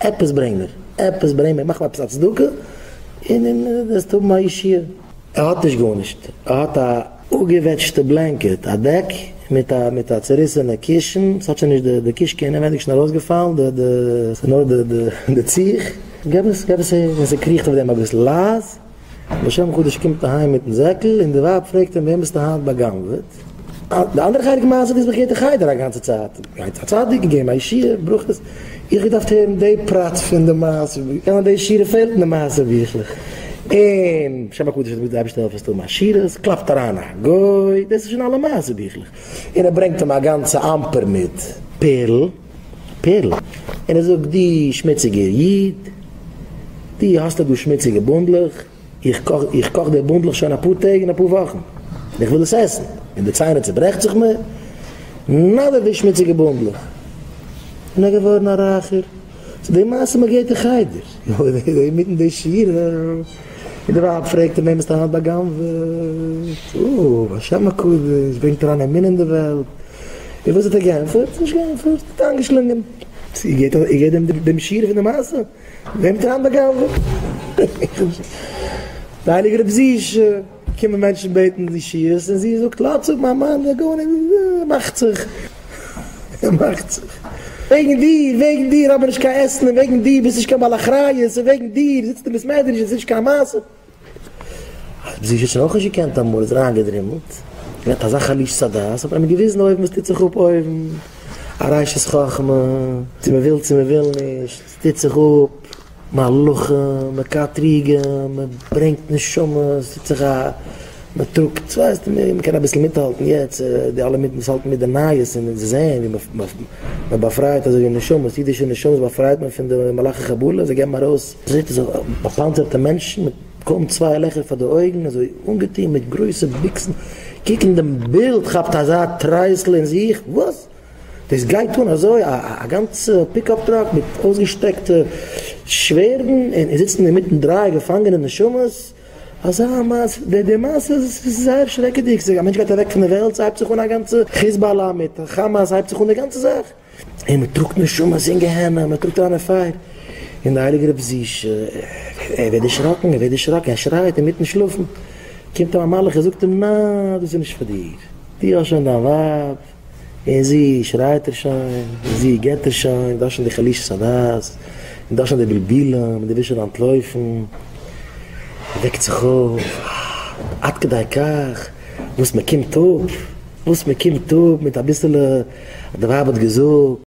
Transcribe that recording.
עפעס ברענג מיר, עפעס ברענג מיר, מאך מיר עפעס א צדקה, און און דו וועסט האבן א ישועה. ער האט נישט גארנישט, ער האט א אפגעוועטשטע בלענקעט, א דעק מיט א מיט א צוריסענע קישן, ס'האט שוין נישט די קישקע אינעווענדיג שוין ארויסגעפאלן, די די ס'נאר די די די ציך, געב עס געב עס איר, און זי קריכט אויף דעם אביסל לייז. לשם חדש קומט אהיים מיטן זעקל און די ווייב פרעגט אים וועם ביסטו היינט באגנב'עט? די אנדערע חלק מעשה דאס וואס איך הער די חדר א גאנצע צייט גייט א צדיק און געבן א ישועה ברכות איך האב געדארפט הערן די פרט פון די מעשה בוך אן די שירה פעלט אין די מעשה ביכלעך און שם הקדוש איז געווען די אייבערשטע העלף עס טון מעשירות קלאפט אריין א גוי דאס איז שוין אלע מעשה ביכלעך און ער ברענגט אים א גאנצע אמפער מיט פערל. פערל, און ער זאגט, דו שמוציגער איד, דו האסט דא דו שמוציגע בונדלעך, איך קאך, איך קאך די בונדלעך שוין אפאר טעג און אפאר וואכן, און איך וויל עס עסן, און די ציינער צוברעכט זיך מיר, נאדער די שמוציגע בונדלעך, און ער געווארן א רייכער, ס'איז די מעשה מ'געט אין חדר, אינמיטן די שיעור. און די ווייב פרעגט אים, וועם האסטו היינט בא'גנב'עט? אוי, השם הקדוש ברענגט אריין אמונה אין די וועלט. און וואס האט ער געענטפערט? נישט געענטפערט, האט איינגעשלונגען. איר געט איר געט דעם דעם שיעור פון די מעשה? וועם האט איר היינט בא'גנב'עט? דער הייליגער רב זי ע. קומען מענטשן בעטן די שיערס און זי זאגט לאטס אפ מיין מאן זאל גארנישט ער מאכט זיך ער מאכט זיך וועגן דיר וועגן דיר האב איך נישט קיין עסן און וועגן דיר ביסט נישט קיין בעל אחריות און וועגן דיר זיצט אין בית מדרש און ס'נישט קיין מעשה האט זי שוין אויך נישט געקענט אמאל איז ער איינגעדרימלט געהאט אזא חלישות הדעת האט מען אים געוויזן אויבן וואס טוט זיך אפ אויבן א ריישעס חכמה צו מ'וויל צו מ'וויל נישט. טוט זיך אפ מהלכים, מען קאטריגען, מען ברענגט נשמות, טוט זיך א מען טראגט, ס'ווייסט מען מען קען אביסל מיטהאלטן יעצט די אלע מיט וואס האלטן מיט די נייעס און זיי זעען ווי מען באפרייט אזוי ווי נשמות, אידישע נשמות באפרייט מען פון די מלאכי חבלה, זיי געבן ארויס זעט אויס אזוי באפאנצערטע מענטשן מיט קוים צוויי לעכער פאר די אויגן אזוי אנגעטון מיט גרויסע ביקסן, קוק אין דעם בילד כאפט אזא טרייסל אין זיך, וואס? דאס גייט אן אזוי, א גאנצע פיקאפ טראק מיט אויסגעשטרעקטע שווערדן, און עס זיצן אינמיטן דריי געפאנגענע נשמות, אזא מעשה, די מעשה איז זייער שרעקעדיג, א מענטש גייט אוועק פון די וועלט, ס'הייבט זיך אן א גאנצע חיזבאלא מיט כאמאס, ס'הייבט זיך אן די גאנצע זאך, און מען טראגט נשמות אין גיהנום, מען טראגט אריין אין פייער, און דער הייליגער רב זי ע, ער ווערט דערשראקן, ער ווערט דערשראקן, ער שרייט אינמיטן שלאפן, קומט אים א מלאך און זאגט אים, ניין, דאס איז נישט פאר דיר, דו האסט שוין דיין ווייב, און זי שרייט ער שוין, און זי געט ער שוין, דאס שוין די חלישות הדעת, און דאס שוין די בלבולים, און די ווילסט שוין אנטלויפן. ער וועקט זיך אויף, עד כדי כך וואס מען קומט אפ, וואס מען קומט אפ מיט אביסעלע, אז די ווייב האט געזאגט.